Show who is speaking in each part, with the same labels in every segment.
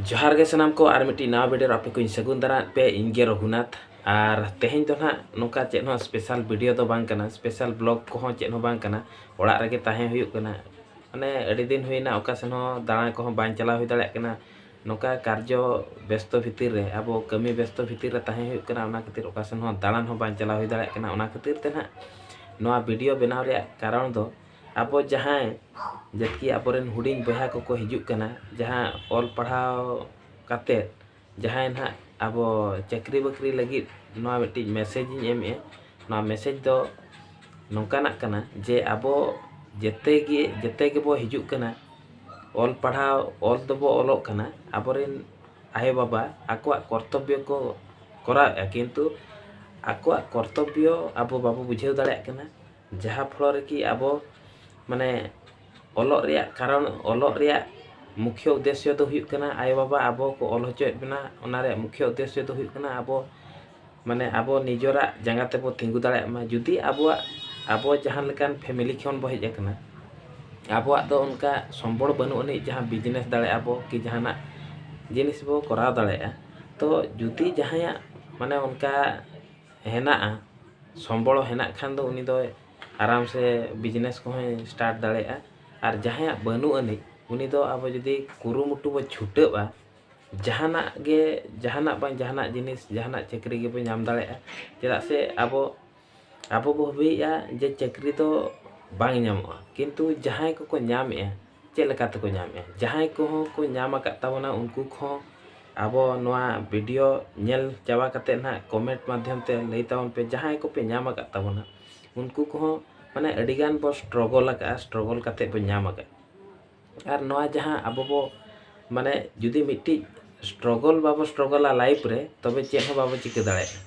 Speaker 1: ᱡᱚᱦᱟᱨ ᱜᱮ ᱥᱟᱱᱟᱢ ᱠᱚ ᱟᱨ ᱢᱤᱫᱴᱤᱡ ᱱᱟᱣᱟ ᱵᱷᱤᱰᱤᱭᱳ ᱟᱯᱮ ᱠᱚᱧ ᱥᱟᱹᱜᱩᱱ ᱫᱟᱨᱟᱢ ᱯᱮ ᱤᱧ ᱜᱮ ᱨᱚᱜᱷᱩᱱᱟᱛᱷ ᱟᱨ ᱛᱮᱦᱮᱧ ᱫᱚ ᱱᱟᱦᱟᱜ ᱱᱚᱝᱠᱟ ᱪᱮᱫ ᱦᱚᱸ ᱥᱯᱮᱥᱟᱞ ᱵᱷᱤᱰᱤᱭᱳ ᱫᱚ ᱵᱟᱝ ᱠᱟᱱᱟ ᱥᱯᱮᱥᱟᱞ ᱵᱞᱚᱜ ᱠᱚᱦᱚᱸ ᱪᱮᱫ ᱦᱚᱸ ᱵᱟᱝ ᱠᱟᱱᱟ ᱚᱲᱟᱜ ᱨᱮᱜᱮ ᱛᱟᱦᱮᱸ ᱦᱩᱭᱩᱜ ᱠᱟᱱᱟ ᱢᱟᱱᱮ ᱟᱹᱰᱤ ᱫᱤᱱ ᱦᱩᱭᱱᱟ ᱚᱠᱟ ᱥᱮᱱ ᱦᱚᱸ ᱫᱟᱬᱟ ᱠᱚᱦᱚᱸ ᱵᱟᱝ ᱪᱟᱞᱟᱣ ᱦᱩᱭ ᱫᱟᱲᱮᱭᱟᱜ ᱠᱟᱱᱟ ᱱᱚᱝᱠᱟ ᱠᱟᱨᱡᱚ ᱵᱮᱥᱛᱚ ᱵᱷᱤᱛᱤᱨ ᱨᱮ ᱟᱵᱚ ᱠᱟᱹᱢᱤ ᱵᱮᱥᱛᱚ ᱵᱷᱤᱛᱤᱨ ᱨᱮ ᱛᱟᱦᱮᱸ ᱦᱩᱭᱩᱜ ᱠᱟᱱᱟ ᱚᱱᱟ ᱠᱷᱟᱹᱛᱤᱨ ᱚᱠᱟ ᱥᱮᱱ ᱦᱚᱸ ᱫᱟᱬᱟᱱ ᱦᱚᱸ ᱵᱟᱝ ᱪᱟᱞᱟᱣ ᱦᱩᱭ ᱫᱟᱲᱮᱭᱟᱜ ᱠᱟᱱᱟ ᱚᱱᱟ ᱠᱷᱟᱹᱛᱤᱨ ᱛᱮ ᱱᱟᱦᱟᱜ ᱱᱚᱣᱟ ᱵᱷᱤᱰᱤᱭᱳ ᱵᱮᱱᱟᱣ ᱨᱮᱭᱟᱜ ᱠᱟᱨᱚᱱ ᱫᱚ ᱟᱵᱚ ᱡᱟᱦᱟᱸᱭ ᱡᱟᱹᱛᱤ ᱟᱵᱚᱨᱮᱱ ᱦᱩᱰᱤᱧ ᱵᱚᱭᱦᱟ ᱠᱚᱠᱚ ᱦᱤᱡᱩᱜ ᱠᱟᱱᱟ ᱡᱟᱦᱟᱸ ᱚᱞ ᱯᱟᱲᱦᱟᱣ ᱠᱟᱛᱮ ᱡᱟᱦᱟᱸᱭ ᱱᱟᱦᱟᱜ ᱟᱵᱚ ᱪᱟᱹᱠᱨᱤ ᱵᱟᱹᱠᱨᱤ ᱞᱟᱹᱜᱤᱫ ᱱᱚᱣᱟ ᱢᱤᱫᱴᱤᱡ ᱢᱮᱥᱮᱡᱽ ᱤᱧ ᱮᱢᱮᱜᱼᱟ ᱱᱚᱣᱟ ᱢᱮᱥᱮᱡᱽ ᱫᱚ ᱱᱚᱝᱠᱟᱱᱟᱜ ᱠᱟᱱᱟ ᱡᱮ ᱟᱵᱚ ᱡᱮᱛᱮ ᱜᱮ ᱡᱮᱛᱮ ᱜᱮᱵᱚ ᱦᱤᱡᱩᱜ ᱠᱟᱱᱟ ᱚᱞ ᱯᱟᱲᱦᱟᱣ ᱚᱞ ᱫᱚᱵᱚ ᱚᱞᱚᱜ ᱠᱟᱱᱟ ᱟᱵᱚᱨᱮᱱ ᱟᱭᱳ ᱵᱟᱵᱟ ᱟᱠᱚᱣᱟᱜ ᱠᱚᱨᱛᱚᱵᱵᱚ ᱠᱚ ᱠᱚᱨᱟᱣᱮᱜᱼᱟ ᱠᱤᱱᱛᱩ ᱟᱠᱚᱣᱟᱜ ᱠᱚᱨᱛᱚᱵᱵᱚ ᱟᱵᱚ ᱵᱟᱵᱚ ᱵᱩᱡᱷᱟᱹᱣ ᱫᱟᱲᱮᱭᱟᱜ ᱠᱟᱱᱟ ᱡᱟᱦᱟᱸ ᱯᱷᱚᱞᱚ ᱨᱮ ᱠᱤ ᱟᱵᱚ ᱢᱟᱱᱮ ᱚᱞᱚᱜ ᱨᱮᱭᱟᱜ ᱠᱟᱨᱚᱱ ᱚᱞᱚᱜ ᱨᱮᱭᱟᱜ ᱢᱩᱠᱷᱭᱚ ᱩᱫᱮᱥᱭᱚ ᱫᱚ ᱦᱩᱭᱩᱜ ᱠᱟᱱᱟ ᱟᱭᱳ ᱵᱟᱵᱟ ᱟᱵᱚ ᱠᱚ ᱚᱞ ᱦᱚᱪᱚᱭᱮᱫ ᱵᱚᱱᱟ ᱚᱱᱟ ᱨᱮᱭᱟᱜ ᱢᱩᱠᱷᱭᱚ ᱩᱫᱮᱥᱭᱚ ᱫᱚ ᱦᱩᱭᱩᱜ ᱠᱟᱱᱟ ᱟᱵᱚ ᱢᱟᱱᱮ ᱟᱵᱚ ᱱᱤᱡᱚᱨᱟᱜ ᱡᱟᱸᱜᱟ ᱛᱮᱵᱚ ᱛᱤᱸᱜᱩ ᱫᱟᱲᱮᱭᱟᱜ ᱢᱟ ᱡᱩᱫᱤ ᱟᱵᱚᱣᱟᱜ ᱟᱵᱚ ᱡᱟᱦᱟᱸ ᱞᱮᱠᱟᱱ ᱯᱷᱮᱢᱮᱞᱤ ᱠᱷᱚᱱ ᱵᱚ ᱦᱮᱡ ᱟᱠᱟᱱᱟ ᱟᱵᱚᱣᱟᱜ ᱫᱚ ᱚᱱᱠᱟ ᱥᱚᱢᱵᱚᱲ ᱵᱟᱹᱱᱩᱜ ᱟᱹᱱᱤᱡ ᱡᱟᱦᱟᱸ ᱵᱤᱡᱽᱱᱮᱥ ᱫᱟᱲᱮᱭᱟᱜᱼᱟ ᱵᱚ ᱠᱤ ᱡᱟᱦᱟᱱᱟᱜ ᱡᱤᱱᱤᱥ ᱵᱚ ᱠᱚᱨᱟᱣ ᱫᱟᱲᱮᱭᱟᱜᱼᱟ ᱛᱚ ᱡᱩᱫᱤ ᱡᱟᱦᱟᱸᱭᱟᱜ ᱢᱟᱱᱮ ᱚᱱᱠᱟ ᱦᱮᱱᱟᱜᱼᱟ ᱥᱚᱢᱵᱚᱞ ᱦᱮᱱᱟᱜ ᱠᱷᱟᱱ ᱫᱚ ᱩᱱᱤ ᱫᱚᱭ ᱟᱨᱟᱢ ᱥᱮ ᱵᱤᱡᱽᱱᱮᱥ ᱠᱚᱦᱚᱸᱭ ᱥᱴᱟᱨᱴ ᱫᱟᱲᱮᱭᱟᱜᱼᱟ ᱟᱨ ᱡᱟᱦᱟᱸᱭᱟᱜ ᱵᱟᱹᱱᱩᱜ ᱟᱹᱱᱤᱡ ᱩᱱᱤ ᱫᱚ ᱟᱵᱚ ᱡᱩᱫᱤ ᱠᱩᱨᱩᱢᱩᱴᱩ ᱵᱚ ᱪᱷᱩᱴᱟᱹᱜᱼᱟ ᱡᱟᱦᱟᱱᱟᱜ ᱜᱮ ᱡᱟᱦᱟᱱᱟᱜ ᱵᱟᱝ ᱡᱟᱦᱟᱱᱟᱜ ᱡᱤᱱᱤᱥ ᱡᱟᱦᱟᱱᱟᱜ ᱪᱟᱹᱠᱨᱤ ᱜᱮᱵᱚ ᱧᱟᱢ ᱫᱟᱲᱮᱭᱟᱜᱼᱟ ᱪᱮᱫᱟᱜ ᱥᱮ ᱟᱵᱚ ᱟᱵᱚ ᱵᱚ ᱵᱷᱟᱹᱵᱤᱭᱮᱫᱼᱟ ᱡᱮ ᱪᱟᱹᱠᱨᱤ ᱫᱚ ᱵᱟᱝ ᱧᱟᱢᱚᱜᱼᱟ ᱠᱤᱱᱛᱩ ᱡᱟᱦᱟᱸᱭ ᱠᱚᱠᱚ ᱧᱟᱢᱮᱫᱼᱟ ᱪᱮᱫ ᱞᱮᱠᱟ ᱛᱮᱠᱚ ᱧᱟᱢᱮᱜᱼᱟ ᱡᱟᱦᱟᱸᱭ ᱠᱚᱦᱚᱸ ᱠᱚ ᱧᱟᱢ ᱟᱠᱟᱫ ᱛᱟᱵᱚᱱᱟ ᱩᱱᱠᱩ ᱠᱚᱦᱚᱸ ᱟᱵᱚ ᱱᱚᱣᱟ ᱵᱷᱤᱰᱤᱭᱳ ᱧᱮᱞ ᱪᱟᱵᱟ ᱠᱟᱛᱮ ᱱᱟᱦᱟᱜ ᱠᱚᱢᱮᱱᱴ ᱢᱟᱫᱽᱫᱷᱚᱢ ᱛᱮ ᱞᱟᱹᱭ ᱛᱟᱵᱚᱱ ᱯᱮ ᱡᱟᱦᱟᱸᱭ ᱠᱚᱯᱮ ᱧᱟᱢ ᱟᱠᱟᱫ ᱛᱟᱵᱚᱱᱟ ᱩᱱᱠᱩ ᱠᱚᱦᱚᱸ ᱢᱟᱱᱮ ᱟᱹᱰᱤᱜᱟᱱ ᱵᱚ ᱥᱴᱨᱚᱜᱚᱞ ᱟᱠᱟᱫᱼᱟ ᱥᱴᱨᱚᱜᱚᱞ ᱠᱟᱛᱮ ᱵᱚ ᱧᱟᱢ ᱟᱠᱟᱫᱼᱟ ᱟᱨ ᱱᱚᱣᱟ ᱡᱟᱦᱟᱸ ᱟᱵᱚ ᱵᱚ ᱢᱟᱱᱮ ᱡᱩᱫᱤ ᱢᱤᱫᱴᱤᱡ ᱥᱴᱨᱚᱜᱚᱞ ᱵᱟᱵᱚ ᱥᱴᱨᱚᱜᱚᱞᱟ ᱞᱟᱭᱤᱯᱷ ᱨᱮ ᱛᱚᱵᱮ ᱪᱮᱫ ᱦᱚᱸ ᱵᱟᱵᱚ ᱪᱤᱠᱟᱹ ᱫᱟᱲᱮᱭᱟᱜᱼᱟ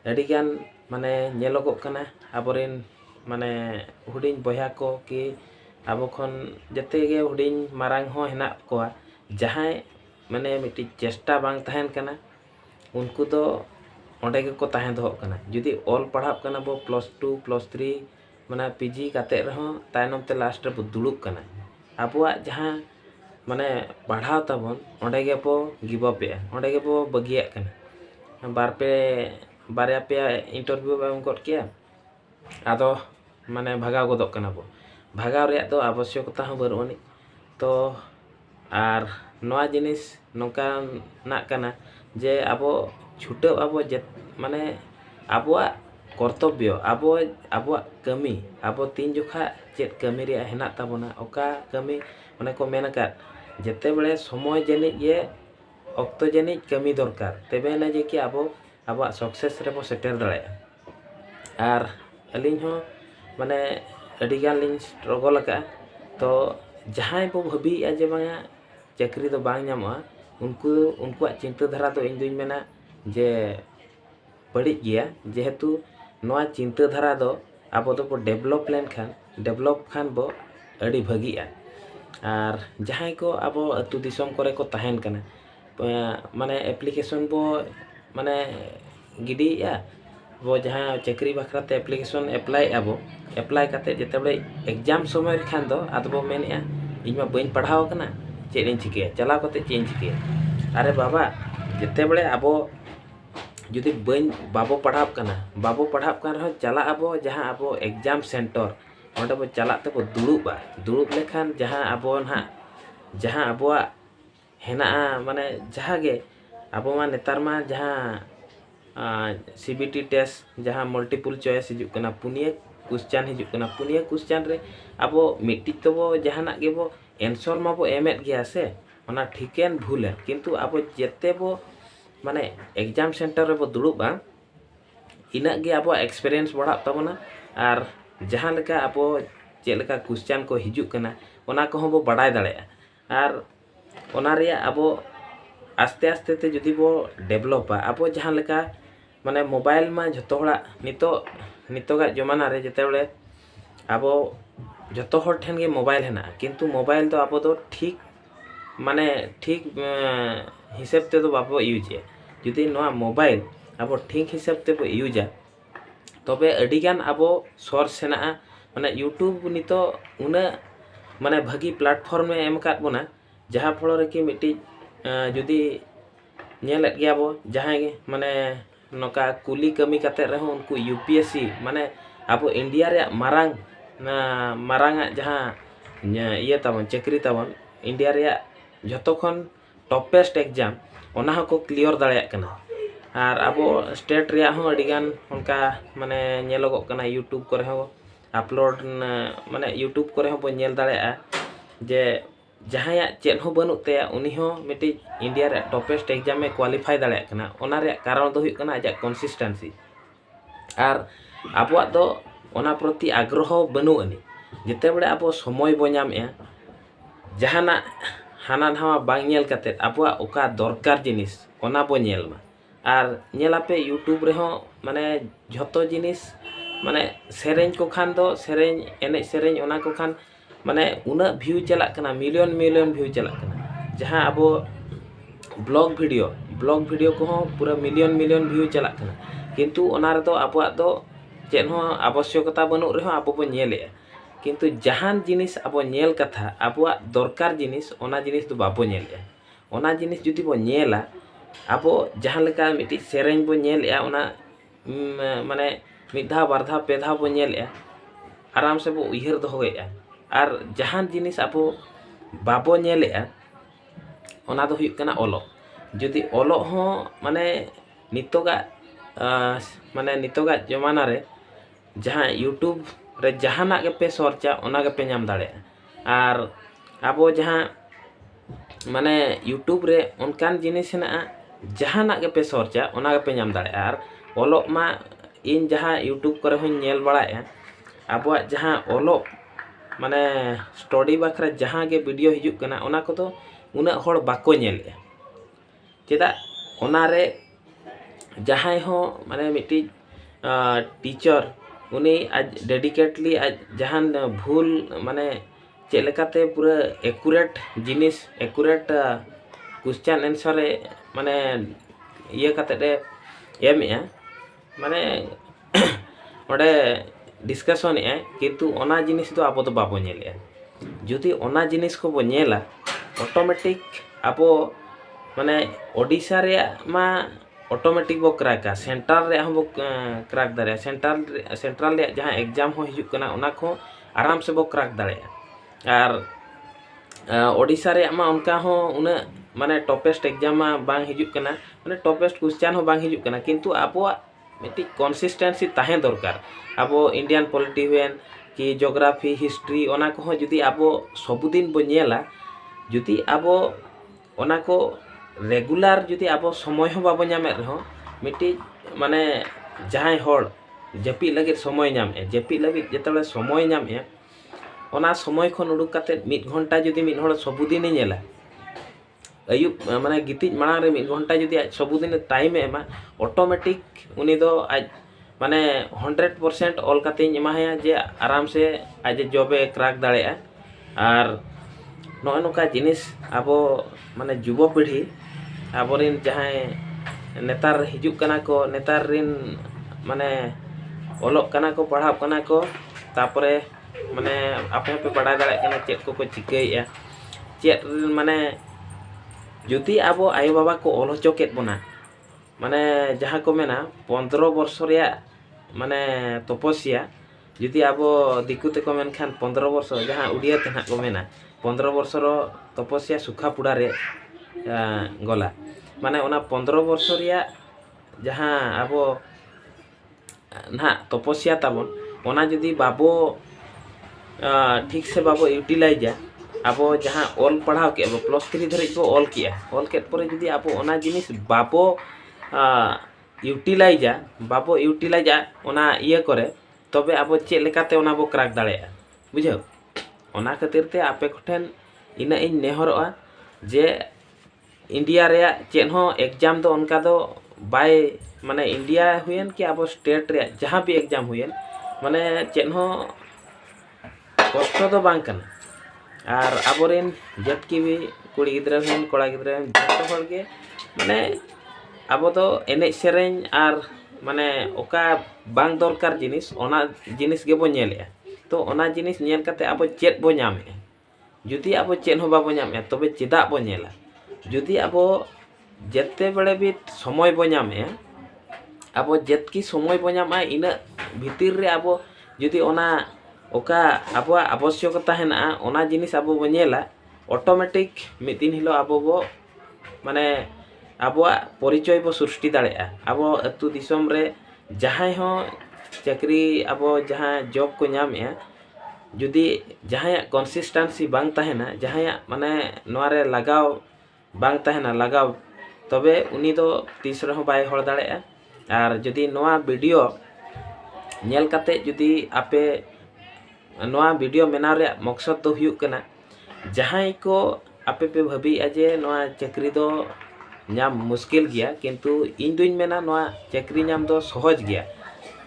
Speaker 1: ᱟᱹᱰᱤᱜᱟᱱ ᱢᱟᱱᱮ ᱧᱮᱞᱚᱜᱚᱜ ᱠᱟᱱᱟ ᱟᱵᱚᱨᱮᱱ ᱢᱟᱱᱮ ᱦᱩᱰᱤᱧ ᱵᱚᱭᱦᱟ ᱠᱚ ᱠᱤ ᱟᱵᱚ ᱠᱷᱚᱱ ᱡᱮᱛᱮ ᱜᱮ ᱦᱩᱰᱤᱧ ᱢᱟᱨᱟᱝ ᱦᱚᱸ ᱦᱮᱱᱟᱜ ᱠᱚᱣᱟ ᱡᱟᱦᱟᱸᱭ ᱢᱟᱱᱮ ᱢᱤᱫᱴᱤᱡ ᱪᱮᱥᱴᱟ ᱵᱟᱝ ᱛᱟᱦᱮᱱ ᱠᱟᱱᱟ ᱩᱱᱠᱩ ᱫᱚ ᱚᱸᱰᱮ ᱜᱮᱠᱚ ᱛᱟᱦᱮᱸ ᱫᱚᱦᱚᱜ ᱠᱟᱱᱟ ᱡᱩᱫᱤ ᱚᱞ ᱯᱟᱲᱦᱟᱜ ᱠᱟᱱᱟ ᱵᱚ ᱯᱞᱟᱥ ᱴᱩ ᱯᱞᱟᱥ ᱛᱷᱨᱤ ᱢᱟᱱᱮ ᱯᱤ ᱡᱤ ᱠᱟᱛᱮᱫ ᱨᱮᱦᱚᱸ ᱛᱟᱭᱱᱚᱢ ᱛᱮ ᱞᱟᱥᱴ ᱨᱮᱵᱚ ᱫᱩᱲᱩᱵ ᱠᱟᱱᱟ ᱟᱵᱚᱣᱟᱜ ᱡᱟᱦᱟᱸ ᱢᱟᱱᱮ ᱯᱟᱲᱦᱟᱣ ᱛᱟᱵᱚᱱ ᱚᱸᱰᱮ ᱜᱮᱵᱚ ᱜᱤᱵᱷ ᱟᱯ ᱮᱫᱟ ᱚᱸᱰᱮ ᱜᱮᱵᱚ ᱵᱟᱹᱜᱤᱭᱟᱜ ᱠᱟᱱᱟ ᱵᱟᱨ ᱯᱮ ᱵᱟᱨᱭᱟ ᱯᱮᱭᱟ ᱤᱱᱴᱟᱨᱵᱷᱤᱭᱩ ᱵᱚ ᱮᱢ ᱜᱚᱫ ᱠᱮᱫᱼᱟ ᱟᱫᱚ ᱢᱟᱱᱮ ᱵᱷᱟᱜᱟᱣ ᱜᱚᱫᱚᱜ ᱠᱟᱱᱟ ᱵᱚ ᱵᱷᱟᱜᱟᱣ ᱨᱮᱭᱟᱜ ᱫᱚ ᱟᱵᱚᱥᱭᱚᱠᱚᱛᱟ ᱦᱚᱸ ᱵᱟᱹᱱᱩᱜ ᱟᱹᱱᱤᱡ ᱛᱚ ᱟᱨ ᱱᱚᱣᱟ ᱡᱤᱱᱤᱥ ᱱᱚᱝᱠᱟᱱᱟᱜ ᱠᱟᱱᱟ ᱡᱮ ᱟᱵᱚ ᱪᱷᱩᱴᱟᱹᱜ ᱟᱵᱚ ᱡᱮ ᱢᱟᱱᱮ ᱟᱵᱚᱣᱟᱜ ᱠᱚᱨᱛᱚᱵᱵᱚ ᱟᱵᱚ ᱟᱵᱚᱣᱟᱜ ᱠᱟᱹᱢᱤ ᱟᱵᱚ ᱛᱤᱱ ᱡᱚᱠᱷᱟᱜ ᱪᱮᱫ ᱠᱟᱹᱢᱤ ᱨᱮᱭᱟᱜ ᱦᱮᱱᱟᱜ ᱛᱟᱵᱚᱱᱟ ᱚᱠᱟ ᱠᱟᱹᱢᱤ ᱚᱱᱮ ᱠᱚ ᱢᱮᱱ ᱟᱠᱟᱫ ᱡᱮᱛᱮ ᱵᱟᱲᱮ ᱥᱚᱢᱚᱭ ᱡᱟᱹᱱᱤᱡ ᱜᱮ ᱚᱠᱛᱚ ᱡᱟᱹᱱᱤᱡ ᱠᱟᱹᱢᱤ ᱫᱚᱨᱠᱟᱨ ᱛᱚᱵᱮ ᱟᱹᱱᱤᱡ ᱜᱮᱠᱤ ᱟᱵᱚ ᱟᱵᱚᱣᱟᱜ ᱥᱟᱠᱥᱮᱥ ᱨᱮᱵᱚ ᱥᱮᱴᱮᱨ ᱫᱟᱲᱮᱭᱟᱜᱼᱟ ᱟᱨ ᱟᱹᱞᱤᱧ ᱦᱚᱸ ᱢᱟᱱᱮ ᱟᱹᱰᱤ ᱜᱟᱱ ᱞᱤᱧ ᱥᱴᱨᱚᱜᱚᱞ ᱟᱠᱟᱫᱼᱟ ᱛᱚ ᱡᱟᱦᱟᱸᱭ ᱠᱚ ᱵᱷᱟᱹᱵᱤᱭᱮᱫᱼᱟ ᱡᱮ ᱵᱟᱝᱟ ᱪᱟᱹᱠᱨᱤ ᱫᱚ ᱵᱟᱝ ᱧᱟᱢᱚᱜᱼᱟ ᱩᱱᱠᱩ ᱩᱱᱠᱩᱣᱟᱜ ᱪᱤᱱᱛᱟᱹ ᱫᱷᱟᱨᱟ ᱫᱚ ᱤᱧ ᱫᱩᱧ ᱢᱮᱱᱟ ᱡᱮ ᱵᱟᱹᱲᱤᱡ ᱜᱮᱭᱟ ᱡᱮᱦᱮᱛᱩ ᱱᱚᱣᱟ ᱪᱤᱱᱛᱟᱹ ᱫᱷᱟᱨᱟ ᱫᱚ ᱟᱵᱚ ᱫᱚᱵᱚ ᱰᱮᱵᱷᱞᱚᱯ ᱞᱮᱱᱠᱷᱟᱱ ᱰᱮᱵᱷᱞᱚᱯ ᱠᱷᱟᱱ ᱵᱚ ᱟᱹᱰᱤ ᱵᱷᱟᱹᱜᱤᱜᱼᱟ ᱟᱨ ᱡᱟᱦᱟᱸᱭ ᱠᱚ ᱟᱵᱚ ᱟᱹᱛᱩ ᱫᱤᱥᱚᱢ ᱠᱚᱨᱮ ᱠᱚ ᱛᱟᱦᱮᱱ ᱠᱟᱱᱟ ᱢᱟᱱᱮ ᱮᱯᱞᱤᱠᱮᱥᱚᱱ ᱵᱚ ᱢᱟᱱᱮ ᱜᱤᱰᱤᱭᱮᱫᱼᱟ ᱟᱵᱚ ᱡᱟᱦᱟᱸ ᱪᱟᱹᱠᱨᱤ ᱵᱟᱠᱷᱨᱟ ᱛᱮ ᱮᱯᱞᱤᱠᱮᱥᱚᱱ ᱮᱯᱞᱟᱭᱮᱫᱼᱟ ᱵᱚ ᱮᱯᱞᱟᱭ ᱠᱟᱛᱮᱫ ᱡᱮᱛᱮ ᱵᱟᱲᱮ ᱮᱠᱡᱟᱢ ᱥᱚᱢᱚᱭ ᱨᱮ ᱠᱷᱟᱱ ᱫᱚ ᱟᱫᱚ ᱵᱚ ᱢᱮᱱᱮᱫᱼᱟ ᱤᱧ ᱢᱟ ᱵᱟᱹᱧ ᱯᱟᱲᱦᱟᱣ ᱠᱟᱱᱟ ᱪᱮᱫ ᱤᱧ ᱪᱤᱠᱟᱹᱭᱟ ᱪᱟᱞᱟᱣ ᱠᱟᱛᱮᱫ ᱪᱮᱫ ᱤᱧ ᱪᱤᱠᱟᱹᱭᱟ ᱟᱨᱮ ᱵᱟᱵᱟ ᱡᱮᱛᱮ ᱵᱟᱲᱮ ᱟᱵᱚ ᱡᱩᱫᱤ ᱵᱟᱹᱧ ᱵᱟᱵᱚ ᱯᱟᱲᱦᱟᱜ ᱠᱟᱱᱟ ᱵᱟᱵᱚ ᱯᱟᱲᱦᱟᱜ ᱠᱟᱱ ᱨᱮᱦᱚᱸ ᱪᱟᱞᱟᱜ ᱟᱵᱚ ᱡᱟᱦᱟᱸ ᱟᱵᱚ ᱮᱠᱡᱟᱢ ᱥᱮᱱᱴᱚᱨ ᱚᱸᱰᱮ ᱵᱚ ᱪᱟᱞᱟᱜ ᱛᱮᱵᱚ ᱫᱩᱲᱩᱵᱼᱟ ᱫᱩᱲᱩᱵ ᱞᱮᱠᱷᱟᱱ ᱡᱟᱦᱟᱸ ᱟᱵᱚ ᱱᱟᱦᱟᱜ ᱡᱟᱦᱟᱸ ᱟᱵᱚᱣᱟᱜ ᱦᱮᱱᱟᱜᱼᱟ ᱢᱟᱱᱮ ᱡᱟᱦᱟᱸ ᱜᱮ ᱟᱵᱚ ᱢᱟ ᱱᱮᱛᱟᱨ ᱢᱟ ᱡᱟᱦᱟᱸ ᱥᱤ ᱵᱤ ᱴᱤ ᱴᱮᱥᱴ ᱡᱟᱦᱟᱸ ᱢᱟᱞᱴᱤᱯᱩᱞ ᱪᱚᱭᱮᱥ ᱦᱤᱡᱩᱜ ᱠᱟᱱᱟ ᱯᱩᱱᱭᱟᱹ ᱠᱚᱥᱪᱟᱱ ᱦᱤᱡᱩᱜ ᱠᱟᱱᱟ ᱯᱩᱱᱭᱟᱹ ᱠᱚᱥᱪᱟᱱ ᱨᱮ ᱟᱵᱚ ᱢᱤᱫᱴᱤᱡ ᱛᱮᱵᱚ ᱡᱟᱦᱟᱱᱟᱜ ᱜᱮᱵᱚ ᱮᱱᱥᱚᱨ ᱢᱟᱵᱚ ᱮᱢᱮᱫ ᱜᱮᱭᱟ ᱥᱮ ᱚᱱᱟ ᱴᱷᱤᱠᱮᱱ ᱵᱷᱩᱞᱮᱱ ᱠᱤᱱᱛᱩ ᱟᱵᱚ ᱡᱮᱛᱮ ᱵᱚ ᱢᱟᱱᱮ ᱮᱠᱡᱟᱢ ᱥᱮᱱᱴᱟᱨ ᱨᱮᱵᱚ ᱫᱩᱲᱩᱵᱼᱟ ᱤᱱᱟᱹᱜ ᱜᱮ ᱟᱵᱚᱣᱟᱜ ᱮᱠᱥᱯᱮᱨᱤᱭᱮᱱᱥ ᱵᱟᱲᱦᱟᱜ ᱛᱟᱵᱚᱱᱟ ᱟᱨ ᱡᱟᱦᱟᱸ ᱞᱮᱠᱟ ᱟᱵᱚ ᱪᱮᱫ ᱞᱮᱠᱟ ᱠᱚᱥᱪᱟᱱ ᱠᱚ ᱦᱤᱡᱩᱜ ᱠᱟᱱᱟ ᱚᱱᱟ ᱠᱚᱦᱚᱸ ᱵᱚ ᱵᱟᱰᱟᱭ ᱫᱟᱲᱮᱭᱟᱜᱼᱟ ᱟᱨ ᱚᱱᱟ ᱨᱮᱭᱟᱜ ᱟᱵᱚ ᱟᱥᱛᱮ ᱟᱥᱛᱮ ᱛᱮ ᱡᱩᱫᱤ ᱵᱚ ᱰᱮᱵᱷᱞᱚᱯᱟ ᱟᱵᱚ ᱡᱟᱦᱟᱸ ᱞᱮᱠᱟ ᱢᱟᱱᱮ ᱢᱳᱵᱟᱭᱤᱞ ᱢᱟ ᱡᱚᱛᱚ ᱦᱚᱲᱟᱜ ᱱᱤᱛᱚᱜ ᱱᱤᱛᱚᱜᱟᱜ ᱡᱚᱢᱟᱱᱟ ᱨᱮ ᱡᱮᱛᱮ ᱵᱟᱲᱮ ᱟᱵᱚ ᱡᱚᱛᱚ ᱦᱚᱲ ᱴᱷᱮᱱ ᱜᱮ ᱢᱳᱵᱟᱭᱤᱞ ᱦᱮᱱᱟᱜᱼᱟ ᱠᱤᱱᱛᱩ ᱢᱳᱵᱟᱭᱤᱞ ᱫᱚ ᱟᱵᱚ ᱫᱚ ᱴᱷᱤᱠ ᱢᱟᱱᱮ ᱴᱷᱤᱠ ᱦᱤᱥᱟᱹᱵ ᱛᱮᱫᱚ ᱵᱟᱵᱚ ᱤᱭᱩᱡᱮᱜᱼᱟ ᱡᱩᱫᱤ ᱱᱚᱣᱟ ᱢᱳᱵᱟᱭᱤᱞ ᱟᱵᱚ ᱴᱷᱤᱠ ᱦᱤᱥᱟᱹᱵ ᱛᱮᱵᱚ ᱤᱭᱩᱡᱟ ᱛᱚᱵᱮ ᱟᱹᱰᱤ ᱜᱟᱱ ᱟᱵᱚ ᱥᱳᱨᱥ ᱦᱮᱱᱟᱜᱼᱟ ᱢᱟᱱᱮ ᱤᱭᱩᱴᱩᱵᱽ ᱱᱤᱛᱚᱜ ᱩᱱᱟᱹᱜ ᱢᱟᱱᱮ ᱵᱷᱟᱹᱜᱤ ᱯᱞᱟᱴᱯᱷᱚᱨᱢ ᱮ ᱮᱢ ᱟᱠᱟᱫ ᱵᱚᱱᱟ ᱡᱟᱦᱟᱸ ᱯᱷᱚᱞᱚ ᱨᱮᱠᱤ ᱢᱤᱫᱴᱤᱡ ᱡᱩᱫᱤ ᱧᱮᱞᱮᱫ ᱜᱮᱭᱟ ᱵᱚ ᱡᱟᱦᱟᱸᱭ ᱜᱮ ᱢᱟᱱᱮ ᱱᱚᱝᱠᱟ ᱠᱩᱞᱤ ᱠᱟᱹᱢᱤ ᱠᱟᱛᱮ ᱨᱮᱦᱚᱸ ᱩᱱᱠᱩ ᱤᱭᱩ ᱯᱤ ᱮᱥ ᱥᱤ ᱢᱟᱱᱮ ᱟᱵᱚ ᱤᱱᱰᱤᱭᱟ ᱨᱮᱭᱟᱜ ᱢᱟᱨᱟᱝ ᱢᱟᱨᱟᱝ ᱟᱜ ᱡᱟᱦᱟᱸ ᱤᱭᱟᱹ ᱛᱟᱵᱚᱱ ᱪᱟᱹᱠᱨᱤ ᱛᱟᱵᱚᱱ ᱤᱱᱰᱤᱭᱟ ᱨᱮᱭᱟᱜ ᱡᱷᱚᱛᱚ ᱠᱷᱚᱱ ᱴᱚᱯ ᱯᱮᱥᱴ ᱮᱠᱡᱟᱢ ᱚᱱᱟ ᱦᱚᱸᱠᱚ ᱠᱞᱤᱭᱚᱨ ᱫᱟᱲᱮᱭᱟᱜ ᱠᱟᱱᱟ ᱟᱨ ᱟᱵᱚ ᱥᱴᱮᱴ ᱨᱮᱭᱟᱜ ᱦᱚᱸ ᱟᱹᱰᱤᱜᱟᱱ ᱚᱱᱠᱟ ᱢᱟᱱᱮ ᱧᱮᱞᱚᱜᱚᱜ ᱠᱟᱱᱟ ᱤᱭᱩᱴᱩᱵᱽ ᱠᱚᱨᱮ ᱦᱚᱸ ᱟᱯᱞᱳᱰ ᱢᱟᱱᱮ ᱤᱭᱩᱴᱩᱵᱽ ᱠᱚᱨᱮ ᱦᱚᱸᱵᱚᱱ ᱧᱮᱞ ᱫᱟᱲᱮᱭᱟᱜᱼᱟ ᱡᱮ ᱡᱟᱦᱟᱸᱭᱟᱜ ᱪᱮᱫ ᱦᱚᱸ ᱵᱟᱹᱱᱩᱜ ᱛᱟᱭᱟ ᱩᱱᱤ ᱦᱚᱸ ᱢᱤᱫᱴᱤᱡ ᱤᱱᱰᱤᱭᱟ ᱨᱮᱭᱟᱜ ᱴᱚᱯᱮᱥᱴ ᱮᱠᱡᱟᱢᱮ ᱠᱳᱣᱟᱞᱤᱯᱷᱟᱭ ᱫᱟᱲᱮᱭᱟᱜ ᱠᱟᱱᱟ ᱚᱱᱟ ᱨᱮᱭᱟᱜ ᱠᱟᱨᱚᱱ ᱫᱚ ᱦᱩᱭᱩᱜ ᱠᱟᱱᱟ ᱟᱡᱟᱜ ᱠᱚᱱᱥᱤᱥᱴᱮᱱᱥᱤ ᱟᱨ ᱟᱵᱚᱣᱟᱜ ᱫᱚ ᱚᱱᱟ ᱯᱨᱚᱛᱤ ᱟᱜᱽᱨᱚᱦᱚ ᱵᱟᱹᱱᱩᱜ ᱟᱹᱱᱤᱡ ᱡᱮᱛᱮ ᱵᱟᱲᱮ ᱟᱵᱚ ᱥᱚᱢᱚᱭ ᱵᱚ ᱧᱟᱢᱮᱜᱼᱟ ᱡᱟᱦᱟᱱᱟᱜ ᱦᱟᱱᱟ ᱱᱟᱣᱟ ᱵᱟᱝ ᱧᱮᱞ ᱠᱟᱛᱮᱫ ᱟᱵᱚᱣᱟᱜ ᱚᱠᱟ ᱫᱚᱨᱠᱟᱨ ᱡᱤᱱᱤᱥ ᱚᱱᱟ ᱵᱚ ᱧᱮᱞ ᱢᱟ ᱟᱨ ᱧᱮᱞ ᱟᱯᱮ ᱤᱭᱩᱴᱩᱵᱽ ᱨᱮᱦᱚᱸ ᱢᱟᱱᱮ ᱡᱷᱚᱛᱚ ᱡᱤᱱᱤᱥ ᱢᱟᱱᱮ ᱥᱮᱨᱮᱧ ᱠᱚ ᱠᱷᱟᱱ ᱫᱚ ᱥᱮᱨᱮᱧ ᱮᱱᱮᱡ ᱥᱮᱨᱮᱧ ᱚᱱᱟ ᱠᱚ ᱠᱷᱟᱱ ᱢᱟᱱᱮ ᱩᱱᱟᱹᱜ ᱵᱷᱤᱭᱩ ᱪᱟᱞᱟᱜ ᱠᱟᱱᱟ ᱢᱤᱞᱤᱭᱚᱱ ᱢᱤᱞᱤᱭᱚᱱ ᱵᱷᱤᱭᱩ ᱪᱟᱞᱟᱜ ᱠᱟᱱᱟ ᱡᱟᱦᱟᱸ ᱟᱵᱚ ᱵᱞᱚᱜ ᱵᱷᱤᱰᱤᱭᱳ ᱵᱞᱚᱜ ᱵᱷᱤᱰᱤᱭᱳ ᱠᱚᱦᱚᱸ ᱯᱩᱨᱟᱹ ᱢᱤᱞᱤᱭᱚᱱ ᱢᱤᱞᱤᱭᱚᱱ ᱵᱷᱤᱭᱩ ᱪᱟᱞᱟᱜ ᱠᱟᱱᱟ ᱠᱤᱱᱛᱩ ᱚᱱᱟ ᱨᱮᱫᱚ ᱟᱵᱚᱣᱟᱜ ᱫᱚ ᱪᱮᱫ ᱦᱚᱸ ᱟᱵᱚᱥᱥᱚᱠᱚᱛᱟ ᱵᱟᱹᱱᱩᱜ ᱨᱮᱦᱚᱸ ᱟᱵᱚ ᱵᱚᱱ ᱧᱮᱞᱮᱫᱼᱟ ᱠᱤᱱᱛᱩ ᱡᱟᱦᱟᱱ ᱡᱤᱱᱤᱥ ᱟᱵᱚ ᱧᱮᱞ ᱠᱟᱛᱷᱟ ᱟᱵᱚᱣᱟᱜ ᱫᱚᱨᱠᱟᱨ ᱡᱤᱱᱤᱥ ᱚᱱᱟ ᱡᱤᱱᱤᱥ ᱫᱚ ᱵᱟᱵᱚ ᱧᱮᱞᱮᱫᱼᱟ ᱚᱱᱟ ᱡᱤᱱᱤᱥ ᱡᱩᱫᱤ ᱵᱚᱱ ᱧᱮᱞᱟ ᱟᱵᱚ ᱡᱟᱦᱟᱸ ᱞᱮᱠᱟ ᱢᱤᱫᱴᱤᱡ ᱥᱮᱨᱮᱧ ᱵᱚᱱ ᱧᱮᱞᱮᱫᱼᱟ ᱚᱱᱟ ᱢᱟᱱᱮ ᱢᱤᱫ ᱫᱷᱟᱣ ᱵᱟᱨ ᱫᱷᱟᱣ ᱯᱮ ᱫᱷᱟᱣ ᱵᱚᱱ ᱧᱮᱞᱮᱜᱼᱟ ᱟᱨᱟᱢ ᱥᱮ ᱵᱚᱱ ᱩᱭᱦᱟᱹᱨ ᱫᱚᱦᱚᱭᱮᱜᱼᱟ ᱟᱨ ᱡᱟᱦᱟᱱ ᱡᱤᱱᱤᱥ ᱟᱵᱚ ᱵᱟᱵᱚ ᱧᱮᱞᱮᱜᱼᱟ ᱚᱱᱟ ᱫᱚ ᱦᱩᱭᱩᱜ ᱠᱟᱱᱟ ᱚᱞᱚᱜ ᱡᱩᱫᱤ ᱚᱞᱚᱜ ᱦᱚᱸ ᱢᱟᱱᱮ ᱱᱤᱛᱚᱜᱟᱜ ᱢᱟᱱᱮ ᱱᱤᱛᱚᱜᱟᱜ ᱡᱚᱢᱟᱱᱟ ᱨᱮ ᱡᱟᱦᱟᱸ ᱤᱭᱩᱴᱩᱵᱽ ᱨᱮ ᱡᱟᱦᱟᱱᱟᱜ ᱜᱮᱯᱮ ᱥᱟᱨᱪᱟ ᱚᱱᱟ ᱜᱮᱯᱮ ᱧᱟᱢ ᱫᱟᱲᱮᱭᱟᱜᱼᱟ ᱟᱨ ᱟᱵᱚ ᱡᱟᱦᱟᱸ ᱢᱟᱱᱮ ᱤᱭᱩᱴᱩᱵᱽ ᱨᱮ ᱚᱱᱠᱟᱱ ᱡᱤᱱᱤᱥ ᱦᱮᱱᱟᱜᱼᱟ ᱡᱟᱦᱟᱱᱟᱜ ᱜᱮᱯᱮ ᱥᱟᱨᱪᱟ ᱚᱱᱟ ᱜᱮᱯᱮ ᱧᱟᱢ ᱫᱟᱲᱮᱭᱟᱜᱼᱟ ᱟᱨ ᱚᱞᱚᱜ ᱢᱟ ᱤᱧ ᱡᱟᱦᱟᱸ ᱤᱭᱩᱴᱩᱵᱽ ᱠᱚᱨᱮ ᱦᱚᱸᱧ ᱧᱮᱞ ᱵᱟᱲᱟᱭᱮᱫᱼᱟ ᱟᱵᱚᱣᱟᱜ ᱡᱟᱦᱟᱸ ᱚᱞᱚᱜ ᱢᱟᱱᱮ ᱥᱴᱚᱰᱤ ᱵᱟᱠᱷᱨᱟ ᱡᱟᱦᱟᱸ ᱜᱮ ᱵᱷᱤᱰᱤᱭᱳ ᱦᱤᱡᱩᱜ ᱠᱟᱱᱟ ᱚᱱᱟ ᱠᱚᱫᱚ ᱩᱱᱟᱹᱜ ᱦᱚᱲ ᱵᱟᱠᱚ ᱧᱮᱞᱮᱫᱼᱟ ᱪᱮᱫᱟᱜ ᱚᱱᱟᱨᱮ ᱡᱟᱦᱟᱸᱭ ᱦᱚᱸ ᱢᱟᱱᱮ ᱢᱤᱫᱴᱤᱡ ᱴᱤᱪᱟᱨ ᱩᱱᱤ ᱟᱡ ᱰᱮᱰᱤᱠᱮᱴᱞᱤ ᱟᱡ ᱡᱟᱦᱟᱱ ᱵᱷᱩᱞ ᱢᱟᱱᱮ ᱪᱮᱫ ᱞᱮᱠᱟᱛᱮ ᱯᱩᱨᱟᱹ ᱮᱠᱩᱨᱮᱴ ᱡᱤᱱᱤᱥ ᱮᱠᱩᱨᱮᱴ ᱠᱚᱥᱪᱟᱱ ᱮᱱᱥᱟᱨᱮ ᱢᱟᱱᱮ ᱤᱭᱟᱹ ᱠᱟᱛᱮᱫ ᱮ ᱮᱢᱮᱫᱼᱟ ᱢᱟᱱᱮ ᱚᱸᱰᱮ ᱰᱤᱥᱠᱟᱥᱚᱱ ᱮᱫᱟᱭ ᱠᱤᱱᱛᱩ ᱚᱱᱟ ᱡᱤᱱᱤᱥ ᱫᱚ ᱟᱵᱚ ᱫᱚ ᱵᱟᱵᱚ ᱧᱮᱞᱮᱫᱼᱟ ᱡᱩᱫᱤ ᱚᱱᱟ ᱡᱤᱱᱤᱥ ᱠᱚᱵᱚ ᱧᱮᱞᱟ ᱚᱴᱳᱢᱮᱴᱤᱠ ᱟᱵᱚ ᱢᱟᱱᱮ ᱳᱰᱤᱥᱟ ᱨᱮᱭᱟᱜ ᱢᱟ ᱚᱴᱳᱢᱮᱴᱤᱠ ᱵᱚ ᱠᱨᱮᱠᱟ ᱥᱮᱱᱴᱟᱨ ᱨᱮᱭᱟᱜ ᱦᱚᱸᱵᱚ ᱠᱨᱮᱠ ᱫᱟᱲᱮᱭᱟᱜᱼᱟ ᱥᱮᱱᱴᱟᱨ ᱥᱮᱱᱴᱨᱟᱞ ᱨᱮᱭᱟᱜ ᱡᱟᱦᱟᱸ ᱮᱠᱡᱟᱢ ᱦᱚᱸ ᱦᱤᱡᱩᱜ ᱠᱟᱱᱟ ᱚᱱᱟ ᱠᱚᱦᱚᱸ ᱟᱨᱟᱢ ᱥᱮᱵᱚ ᱠᱨᱮᱠ ᱫᱟᱲᱮᱭᱟᱜᱼᱟ ᱟᱨ ᱳᱰᱤᱥᱟ ᱨᱮᱭᱟᱜ ᱢᱟ ᱚᱱᱠᱟ ᱦᱚᱸ ᱩᱱᱟᱹᱜ ᱢᱟᱱᱮ ᱴᱚᱯᱮᱥᱴ ᱮᱠᱡᱟᱢ ᱢᱟ ᱵᱟᱝ ᱦᱤᱡᱩᱜ ᱠᱟᱱᱟ ᱢᱟᱱᱮ ᱴᱚᱯᱮᱥᱴ ᱠᱚᱥᱪᱟᱱ ᱦᱚᱸ ᱵᱟᱝ ᱦᱤᱡᱩᱜ ᱠᱟᱱᱟ ᱠᱤᱱᱛᱩ ᱟᱵᱚᱣᱟᱜ ᱢᱤᱫᱴᱤᱡ ᱠᱚᱱᱥᱤᱥᱴᱮᱱᱥᱤ ᱛᱟᱦᱮᱸ ᱫᱚᱨᱠᱟᱨ ᱟᱵᱚ ᱤᱱᱰᱤᱭᱟᱱ ᱯᱚᱞᱤᱴᱤ ᱦᱩᱭᱮᱱ ᱠᱤ ᱡᱤᱭᱳᱜᱨᱟᱯᱷᱤ ᱦᱤᱥᱴᱨᱤ ᱚᱱᱟ ᱠᱚᱦᱚᱸ ᱡᱩᱫᱤ ᱟᱵᱚ ᱥᱚᱵᱽ ᱫᱤᱱ ᱵᱚᱱ ᱧᱮᱞᱟ ᱡᱩᱫᱤ ᱟᱵᱚ ᱚᱱᱟ ᱠᱚ ᱨᱮᱜᱩᱞᱟᱨ ᱡᱩᱫᱤ ᱟᱵᱚ ᱥᱚᱢᱚᱭ ᱦᱚᱸ ᱵᱟᱵᱚ ᱧᱟᱢᱮᱫ ᱨᱮᱦᱚᱸ ᱢᱤᱫᱴᱤᱡ ᱢᱟᱱᱮ ᱡᱟᱦᱟᱸᱭ ᱦᱚᱲ ᱡᱟᱹᱯᱤᱫ ᱞᱟᱹᱜᱤᱫ ᱥᱚᱢᱚᱭ ᱧᱟᱢᱮᱫᱼᱟᱭ ᱡᱟᱹᱯᱤᱫ ᱞᱟᱹᱜᱤᱫ ᱡᱮᱛᱮ ᱵᱟᱨᱮ ᱥᱚᱢᱚᱭ ᱧᱟᱢᱮᱫᱼᱟᱭ ᱚᱱᱟ ᱥᱚᱢᱚᱭ ᱠᱷᱚᱱ ᱩᱰᱩᱠ ᱠᱟᱛᱮᱫ ᱢᱤᱫ ᱜᱷᱚᱱᱴᱟ ᱡᱩᱫᱤ ᱢᱤᱫ ᱦᱚᱲ ᱥᱚᱵᱚᱫᱤᱱᱮ ᱧᱮᱞᱟ ᱟᱹᱭᱩᱵ ᱢᱟᱱᱮ ᱜᱤᱛᱤᱡ ᱢᱟᱲᱟᱝ ᱨᱮ ᱢᱤᱫ ᱜᱷᱚᱱᱴᱟ ᱡᱩᱫᱤ ᱟᱡ ᱥᱚᱵᱚᱫᱤᱱ ᱴᱟᱭᱤᱢᱮ ᱮᱢᱟ ᱚᱴᱳᱢᱮᱴᱤᱠ ᱩᱱᱤ ᱫᱚ ᱟᱡ ᱢᱟᱱᱮ ᱦᱚᱱᱰᱨᱮᱰ ᱯᱟᱨᱥᱮᱱᱴ ᱚᱞ ᱠᱟᱛᱮᱧ ᱮᱢᱟ ᱦᱟᱭᱟ ᱡᱮ ᱟᱨᱟᱢ ᱥᱮ ᱟᱡ ᱮ ᱡᱚᱵᱮ ᱠᱨᱟᱠ ᱫᱟᱲᱮᱭᱟᱜᱼᱟ ᱟᱨ ᱱᱚᱜᱼᱚᱸᱭ ᱱᱚᱝᱠᱟ ᱡᱤᱱᱤᱥ ᱟᱵᱚ ᱢᱟᱱᱮ ᱡᱩᱵᱚ ᱯᱤᱲᱦᱤ ᱟᱵᱚᱨᱮᱱ ᱡᱟᱦᱟᱸᱭ ᱱᱮᱛᱟᱨ ᱦᱤᱡᱩᱜ ᱠᱟᱱᱟ ᱠᱚ ᱱᱮᱛᱟᱨ ᱨᱮᱱ ᱢᱟᱱᱮ ᱚᱞᱚᱜ ᱠᱟᱱᱟ ᱠᱚ ᱯᱟᱲᱦᱟᱜ ᱠᱟᱱᱟ ᱠᱚ ᱛᱟᱨᱯᱚᱨᱮ ᱢᱟᱱᱮ ᱟᱯᱮ ᱦᱚᱸᱯᱮ ᱵᱟᱲᱟᱭ ᱫᱟᱲᱮᱭᱟᱜ ᱠᱟᱱᱟ ᱪᱮᱫ ᱠᱚᱠᱚ ᱪᱤᱠᱟᱹᱭᱮᱫᱼᱟ ᱪᱮᱫ ᱢᱟᱱᱮ ᱡᱩᱫᱤ ᱟᱵᱚ ᱟᱭᱳ ᱵᱟᱵᱟ ᱠᱚ ᱚᱞ ᱦᱚᱪᱚ ᱠᱮᱫ ᱵᱚᱱᱟ ᱢᱟᱱᱮ ᱡᱟᱦᱟᱸ ᱠᱚ ᱢᱮᱱᱟ ᱯᱚᱸᱫᱽᱨᱚ ᱵᱚᱛᱥᱚᱨ ᱨᱮᱭᱟᱜ ᱢᱟᱱᱮ ᱛᱚᱯᱚᱥᱤᱭᱟ ᱡᱩᱫᱤ ᱟᱵᱚ ᱫᱤᱠᱩ ᱛᱮᱠᱚ ᱢᱮᱱᱠᱷᱟᱱ ᱯᱚᱸᱫᱽᱨᱚ ᱵᱚᱨᱥᱚ ᱡᱟᱦᱟᱸ ᱩᱰᱤᱭᱟᱹ ᱛᱮ ᱱᱟᱦᱟᱜ ᱠᱚ ᱢᱮᱱᱟ ᱯᱚᱸᱫᱽᱨᱚ ᱵᱚᱨᱥᱚ ᱨᱚ ᱛᱚᱯᱚᱥᱭᱟ ᱥᱩᱠᱷᱟ ᱯᱩᱲᱟ ᱨᱮ ᱜᱚᱞᱟ ᱢᱟᱱᱮ ᱚᱱᱟ ᱯᱚᱸᱫᱽᱨᱚ ᱵᱚᱨᱥᱚ ᱨᱮᱭᱟᱜ ᱡᱟᱦᱟᱸ ᱟᱵᱚ ᱱᱟᱦᱟᱜ ᱛᱚᱯᱚᱥᱭᱟ ᱛᱟᱵᱚᱱ ᱚᱱᱟ ᱡᱩᱫᱤ ᱵᱟᱵᱚ ᱴᱷᱤᱠ ᱥᱮ ᱵᱟᱵᱚ ᱤᱭᱩᱴᱤᱞᱟᱭᱤᱡᱟ ᱟᱵᱚ ᱡᱟᱦᱟᱸ ᱚᱞ ᱯᱟᱲᱦᱟᱣ ᱠᱮᱜᱼᱟ ᱵᱚ ᱯᱞᱟᱥ ᱛᱷᱨᱤ ᱫᱷᱟᱹᱨᱤᱡ ᱵᱚ ᱚᱞ ᱠᱮᱜᱼᱟ ᱚᱞ ᱠᱮᱜ ᱯᱚᱨᱮ ᱡᱩᱫᱤ ᱟᱵᱚ ᱚᱱᱟ ᱡᱤᱱᱤᱥ ᱵᱟᱵᱚ ᱤᱭᱩᱴᱤᱞᱟᱭᱤᱡᱟ ᱵᱟᱵᱚ ᱤᱭᱩᱴᱤᱞᱟᱭᱤᱡᱟ ᱚᱱᱟ ᱤᱭᱟᱹ ᱠᱚᱨᱮ ᱛᱚᱵᱮ ᱟᱵᱚ ᱪᱮᱫ ᱞᱮᱠᱟᱛᱮ ᱚᱱᱟ ᱵᱚ ᱠᱨᱟᱠ ᱫᱟᱲᱮᱭᱟᱜᱼᱟ ᱵᱩᱡᱷᱟᱹᱣ ᱚᱱᱟ ᱠᱷᱟᱹᱛᱤᱨ ᱛᱮ ᱟᱯᱮ ᱠᱚᱴᱷᱮᱱ ᱤᱱᱟᱹᱜ ᱤᱧ ᱱᱮᱦᱚᱨᱚᱜᱼᱟ ᱡᱮ ᱤᱱᱰᱤᱭᱟ ᱨᱮᱭᱟᱜ ᱪᱮᱫ ᱦᱚᱸ ᱮᱠᱡᱟᱢ ᱫᱚ ᱚᱱᱠᱟ ᱫᱚ ᱵᱟᱭ ᱢᱟᱱᱮ ᱤᱱᱰᱤᱭᱟ ᱦᱩᱭᱮᱱ ᱠᱤ ᱟᱵᱚ ᱥᱴᱮᱴ ᱨᱮᱭᱟᱜ ᱡᱟᱦᱟᱸ ᱜᱮ ᱮᱠᱡᱟᱢ ᱦᱩᱭᱮᱱ ᱢᱟᱱᱮ ᱪᱮᱫ ᱦᱚᱸ ᱠᱚᱥᱴᱚ ᱫᱚ ᱵᱟᱝ ᱠᱟᱱᱟ ᱟᱨ ᱟᱵᱚᱨᱮᱱ ᱡᱟᱹᱛ ᱠᱤᱵᱤ ᱠᱩᱲᱤ ᱜᱤᱫᱽᱨᱟᱹ ᱦᱩᱭᱮᱱ ᱠᱚᱲᱟ ᱜᱤᱫᱽᱨᱟᱹ ᱦᱩᱭᱮᱱ ᱡᱚᱛᱚ ᱦᱚᱲ ᱜᱮ ᱢᱟᱱᱮ ᱟᱵᱚ ᱫᱚ ᱮᱱᱮᱡ ᱥᱮᱨᱮᱧ ᱟᱨ ᱢᱟᱱᱮ ᱚᱠᱟ ᱵᱟᱝ ᱫᱚᱨᱠᱟᱨ ᱡᱤᱱᱤᱥ ᱚᱱᱟ ᱡᱤᱱᱤᱥ ᱜᱮᱵᱚᱱ ᱧᱮᱞᱮᱫᱼᱟ ᱛᱳ ᱚᱱᱟ ᱡᱤᱱᱤᱥ ᱧᱮᱞ ᱠᱟᱛᱮᱫ ᱟᱵᱚ ᱪᱮᱫ ᱵᱚᱱ ᱧᱟᱢᱮᱫᱼᱟ ᱡᱩᱫᱤ ᱟᱵᱚ ᱪᱮᱫ ᱦᱚᱸ ᱵᱟᱵᱚ ᱧᱟᱢᱮᱜᱼᱟ ᱛᱚᱵᱮ ᱪᱮᱫᱟᱜ ᱵᱚ ᱧᱮᱞᱟ ᱡᱩᱫᱤ ᱟᱵᱚ ᱡᱮᱛᱮ ᱵᱮᱲᱮ ᱵᱤᱫ ᱥᱚᱢᱚᱭ ᱵᱚ ᱧᱟᱢᱮᱜᱼᱟ ᱟᱵᱚ ᱡᱮᱛᱠᱤ ᱥᱚᱢᱚᱭ ᱵᱚ ᱧᱟᱢᱮᱜᱼᱟ ᱤᱱᱟᱹᱜ ᱵᱷᱤᱛᱤᱨ ᱨᱮ ᱟᱵᱚ ᱡᱩᱫᱤ ᱚᱱᱟ ᱚᱠᱟ ᱟᱵᱚᱣᱟᱜ ᱟᱵᱚᱥᱥᱚᱠᱚᱛᱟ ᱦᱮᱱᱟᱜᱼᱟ ᱚᱱᱟ ᱡᱤᱱᱤᱥ ᱟᱵᱚ ᱵᱚ ᱧᱮᱞᱟ ᱚᱴᱳᱢᱮᱴᱤᱠ ᱢᱤᱫ ᱫᱤᱱ ᱦᱤᱞᱳᱜ ᱟᱵᱚ ᱵᱚ ᱢᱟᱱᱮ ᱟᱵᱚᱣᱟᱜ ᱯᱚᱨᱤᱪᱚᱭ ᱵᱚ ᱥᱨᱤᱥᱴᱤ ᱫᱟᱲᱮᱭᱟᱜᱼᱟ ᱟᱵᱚ ᱟᱹᱛᱩ ᱫᱤᱥᱚᱢ ᱨᱮ ᱡᱟᱦᱟᱸᱭ ᱦᱚᱸ ᱪᱟᱹᱠᱨᱤ ᱟᱵᱚ ᱡᱟᱦᱟᱸ ᱡᱚᱵᱽ ᱠᱚ ᱧᱟᱢᱮᱜᱼᱟ ᱡᱩᱫᱤ ᱡᱟᱦᱟᱸᱭᱟᱜ ᱠᱚᱱᱥᱤᱥᱴᱮᱱᱥᱤ ᱵᱟᱝ ᱛᱟᱦᱮᱱᱟ ᱡᱟᱦᱟᱸᱭᱟᱜ ᱢᱟᱱᱮ ᱱᱚᱣᱟ ᱨᱮ ᱞᱟᱜᱟᱣ ᱵᱟᱝ ᱛᱟᱦᱮᱱᱟ ᱞᱟᱜᱟᱣ ᱛᱚᱵᱮ ᱩᱱᱤ ᱫᱚ ᱛᱤᱥ ᱨᱮᱦᱚᱸ ᱵᱟᱭ ᱦᱚᱲ ᱫᱟᱲᱮᱭᱟᱜᱼᱟ ᱟᱨ ᱡᱩᱫᱤ ᱱᱚᱣᱟ ᱵᱷᱤᱰᱤᱭᱳ ᱧᱮᱞ ᱠᱟᱛᱮ ᱡᱩᱫᱤ ᱟᱯᱮ ᱱᱚᱣᱟ ᱵᱷᱤᱰᱤᱭᱳ ᱵᱮᱱᱟᱣ ᱨᱮᱭᱟᱜ ᱢᱚᱠᱥᱚᱫ ᱫᱚ ᱦᱩᱭᱩᱜ ᱠᱟᱱᱟ ᱡᱟᱦᱟᱸᱭ ᱠᱚ ᱟᱯᱮ ᱯᱮ ᱵᱷᱟᱹᱵᱤᱭᱮᱫᱼᱟ ᱡᱮ ᱱᱚᱣᱟ ᱪᱟᱹᱠᱨᱤ ᱫᱚ ᱧᱟᱢ ᱢᱩᱥᱠᱤᱞ ᱜᱮᱭᱟ ᱠᱤᱱᱛᱩ ᱤᱧ ᱫᱩᱧ ᱢᱮᱱᱟ ᱱᱚᱣᱟ ᱪᱟᱹᱠᱨᱤ ᱧᱟᱢ ᱫᱚ ᱥᱚᱦᱚᱡᱽ ᱜᱮᱭᱟ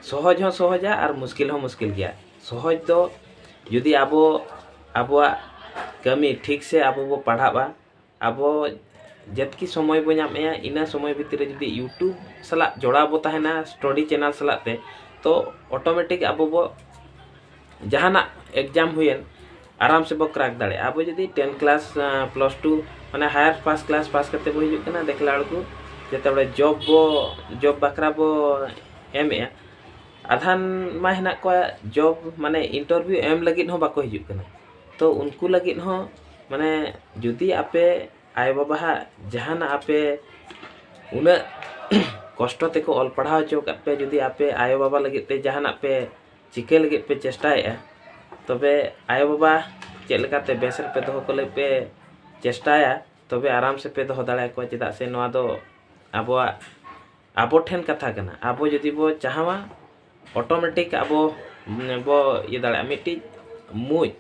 Speaker 1: ᱥᱚᱦᱚᱡᱽ ᱦᱚᱸ ᱥᱚᱦᱚᱡᱟ ᱟᱨ ᱢᱩᱥᱠᱤᱞ ᱦᱚᱸ ᱢᱩᱥᱠᱤᱞ ᱜᱮᱭᱟ ᱥᱚᱦᱚᱡᱽ ᱫᱚ ᱡᱩᱫᱤ ᱟᱵᱚ ᱟᱵᱚᱣᱟᱜ ᱠᱟᱹᱢᱤ ᱴᱷᱤᱠ ᱥᱮ ᱟᱵᱚ ᱵᱚ ᱯᱟᱲᱦᱟᱜᱼᱟ ᱟᱵᱚ ᱡᱮᱛᱠᱤ ᱥᱚᱢᱚᱭ ᱵᱚ ᱧᱟᱢᱮᱜᱼᱟ ᱤᱱᱟᱹ ᱥᱚᱢᱚᱭ ᱵᱷᱤᱛᱨᱤ ᱨᱮ ᱡᱩᱫᱤ ᱤᱭᱩᱴᱩᱵᱽ ᱥᱟᱞᱟᱜ ᱡᱚᱲᱟᱣ ᱵᱚ ᱛᱟᱦᱮᱱᱟ ᱥᱴᱚᱰᱤ ᱪᱮᱱᱮᱞ ᱥᱟᱞᱟᱜ ᱛᱮ ᱛᱚ ᱚᱴᱳᱢᱮᱴᱤᱠ ᱟᱵᱚ ᱵᱚ ᱡᱟᱦᱟᱱᱟᱜ ᱮᱠᱡᱟᱢ ᱦᱩᱭᱮᱱ ᱟᱨᱟᱢ ᱥᱮᱵᱚ ᱠᱨᱮᱠ ᱫᱟᱲᱮᱭᱟᱜᱼᱟ ᱟᱵᱚ ᱡᱩᱫᱤ ᱴᱮᱱ ᱠᱞᱟᱥ ᱯᱞᱟᱥ ᱴᱩ ᱢᱟᱱᱮ ᱦᱟᱭᱟᱨ ᱯᱷᱟᱥᱴ ᱠᱞᱟᱥ ᱯᱟᱥ ᱠᱟᱛᱮᱫ ᱵᱚ ᱦᱤᱡᱩᱜ ᱠᱟᱱᱟ ᱫᱮᱠᱷᱞᱟ ᱵᱮᱲᱠᱩ ᱡᱮᱛᱮ ᱵᱟᱲᱮ ᱡᱚᱵᱽ ᱵᱚ ᱡᱚᱵᱽ ᱵᱟᱠᱷᱨᱟ ᱵᱚ ᱮᱢᱮᱜᱼᱟ ᱟᱫᱷᱟᱱ ᱢᱟ ᱦᱮᱱᱟᱜ ᱠᱚᱣᱟ ᱡᱚᱵ ᱢᱟᱱᱮ ᱤᱱᱴᱟᱨᱵᱷᱤᱭᱩ ᱮᱢ ᱞᱟᱹᱜᱤᱫ ᱦᱚᱸ ᱵᱟᱠᱚ ᱦᱤᱡᱩᱜ ᱠᱟᱱᱟ ᱛᱚ ᱩᱱᱠᱩ ᱞᱟᱹᱜᱤᱫ ᱦᱚᱸ ᱢᱟᱱᱮ ᱡᱩᱫᱤ ᱟᱯᱮ ᱟᱭᱳ ᱵᱟᱵᱟ ᱦᱟᱜ ᱡᱟᱦᱟᱱᱟᱜ ᱟᱯᱮ ᱩᱱᱟᱹᱜ ᱠᱚᱥᱴᱚ ᱛᱮᱠᱚ ᱚᱞ ᱯᱟᱲᱦᱟᱣ ᱦᱚᱪᱚ ᱟᱠᱟᱫ ᱯᱮ ᱡᱩᱫᱤ ᱟᱯᱮ ᱟᱭᱳ ᱵᱟᱵᱟ ᱞᱟᱹᱜᱤᱫ ᱛᱮ ᱡᱟᱦᱟᱱᱟᱜ ᱯᱮ ᱪᱤᱠᱟᱹ ᱞᱟᱹᱜᱤᱫ ᱯᱮ ᱪᱮᱥᱴᱟᱭᱮᱜᱼᱟ ᱛᱚᱵᱮ ᱟᱭᱳ ᱵᱟᱵᱟ ᱪᱮᱫ ᱞᱮᱠᱟᱛᱮ ᱵᱮᱥ ᱨᱮᱯᱮ ᱫᱚᱦᱚ ᱠᱚ ᱞᱟᱹᱜᱤᱫ ᱯᱮ ᱪᱮᱥᱴᱟᱭᱟ ᱛᱚᱵᱮ ᱟᱨᱟᱢ ᱥᱮᱯᱮ ᱫᱚᱦᱚ ᱫᱟᱲᱮ ᱟᱠᱚᱣᱟ ᱪᱮᱫᱟᱜ ᱥᱮ ᱱᱚᱣᱟ ᱫᱚ ᱟᱵᱚᱣᱟᱜ ᱟᱵᱚ ᱴᱷᱮᱱ ᱠᱟᱛᱷᱟ ᱠᱟᱱᱟ ᱟᱵᱚ ᱡᱩᱫᱤ ᱵᱚ ᱪᱟᱦᱟᱣᱟ ᱚᱴᱳᱢᱮᱴᱤᱠ ᱟᱵᱚ ᱵᱚ ᱤᱭᱟᱹ ᱫᱟᱲᱮᱭᱟᱜᱼᱟ ᱢᱤᱫᱴᱤᱡ ᱢᱩᱡ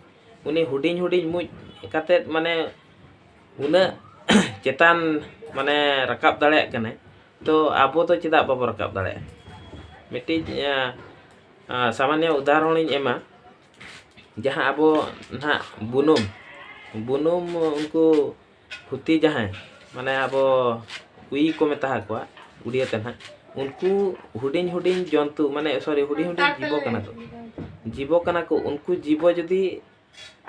Speaker 1: ᱩᱱᱤ ᱦᱩᱰᱤᱧ ᱦᱩᱰᱤᱧ ᱢᱩᱡ ᱠᱟᱛᱮᱫ ᱢᱟᱱᱮ ᱩᱱᱟᱹᱜ ᱪᱮᱛᱟᱱ ᱢᱟᱱᱮ ᱨᱟᱠᱟᱵ ᱫᱟᱲᱮᱭᱟᱜ ᱠᱟᱱᱟᱭ ᱛᱳ ᱟᱵᱚ ᱫᱚ ᱪᱮᱫᱟᱜ ᱵᱟᱵᱚ ᱨᱟᱠᱟᱵ ᱫᱟᱲᱮᱭᱟᱜᱼᱟ ᱢᱤᱫᱴᱤᱡ ᱥᱟᱢᱟᱱᱱᱚ ᱩᱫᱟᱦᱚᱨᱚᱱ ᱤᱧ ᱮᱢᱟ ᱡᱟᱦᱟᱸ ᱟᱵᱚ ᱱᱟᱦᱟᱜ ᱵᱩᱱᱩᱢ ᱵᱩᱱᱩᱢ ᱩᱱᱠᱩ ᱯᱷᱩᱛᱤ ᱡᱟᱦᱟᱸᱭ ᱢᱟᱱᱮ ᱟᱵᱚ ᱩᱭ ᱠᱚ ᱢᱮᱛᱟ ᱟᱠᱚᱣᱟ ᱩᱲᱤᱭᱟᱹ ᱛᱮ ᱱᱟᱦᱟᱜ ᱩᱱᱠᱩ ᱦᱩᱰᱤᱧ ᱦᱩᱰᱤᱧ ᱡᱚᱱᱛᱩ ᱢᱟᱱᱮ ᱥᱚᱨᱤ ᱦᱩᱰᱤᱧ ᱦᱩᱰᱤᱧ ᱡᱤᱵᱚ ᱠᱟᱱᱟ ᱠᱚ ᱡᱤᱵᱚ ᱠᱟᱱᱟ ᱠᱚ ᱩᱱᱠᱩ ᱡᱤᱵᱚ ᱡᱩᱫᱤ